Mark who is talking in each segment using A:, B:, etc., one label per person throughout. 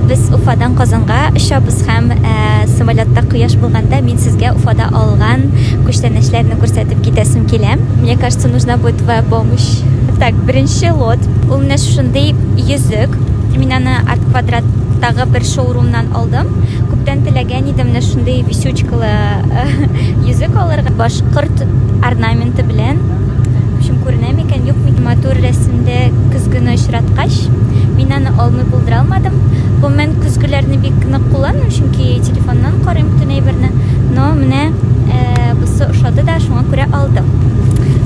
A: Без Уфадан Казанга очабыз һәм самолетта кояш булганда мин сезгә Уфада алган күчтәнәчләрне күрсәтеп китәсем килә. Мне кажется, нужна будет твоя помощь. Так, беренче лот. Ул менә шушындый йөзек. Мин аны арт квадраттагы бер шоурумнан алдым. Күптән теләгән идем менә шундый висючкалы йөзек алырга. Башкорт орнаменты белән. Шум күренә микән, юк микән? Матур рәсемдә көзгене очраткач, мин аны алмый булдыра алмадым. Гомумән, көзгеләрне бик нык кулланмыйм, чөнки телефоннан карыйм бөтен әйберне. Но менә э, бусы ошады да, шуңа күрә алдым.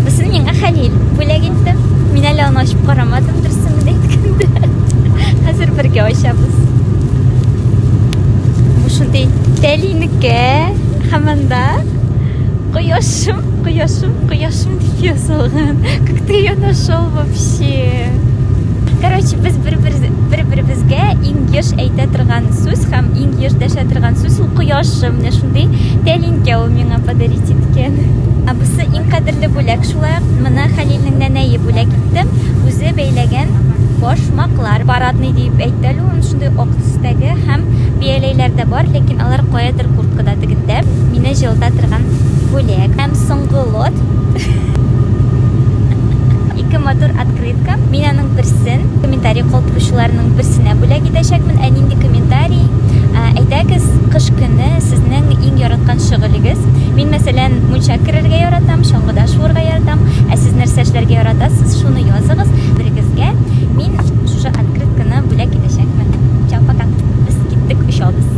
A: Бусын миңа Хәлил бүләк итте. Мин әле аны ачып карамадым, дөресен генә әйткәндә. Хәзер бергә ачабыз. Бу шундый тәлинеккә һәм анда Кояшым, кояшым, кояшым дип язылган. Как ты ее нашел вообще? Короче, без бер-беребезгә иң еш әйтә торган сүз һәм иң еш дәшә торган сүз ул кояшым. Менә шундый тәлинкә ул миңа подарить иткән. Ә бусы иң кадерле бүләк. Шулай ук мына Хәлилнең нәнәе бүләк итте. Үзе бәйләгән башмаклар. Парадный дип әйтте әле Шактый ак төстәге һәм бияләйләр дә бар, ләкин алар каядыр курткада тегендә. Мине җылыта торган бүләк. Һәм соңгы лот. Ике матур открытка. Мин аның берсен комментарий калдыручыларның берсенә бүләк итәчәкмен. Ә нинди комментарий? Әйдәгез, кыш көне сезнең иң яраткан шөгылегез. Мин, мәсәлән, мунча керергә яратам, чаңгыда шуырга яратам. Ә сез нәрсә эшләргә яратасыз? Шуны языгыз. Берегезгә мин шушы Открытканы бүләк итәчәкмен. Чао, пока. Без киттек, очабыз.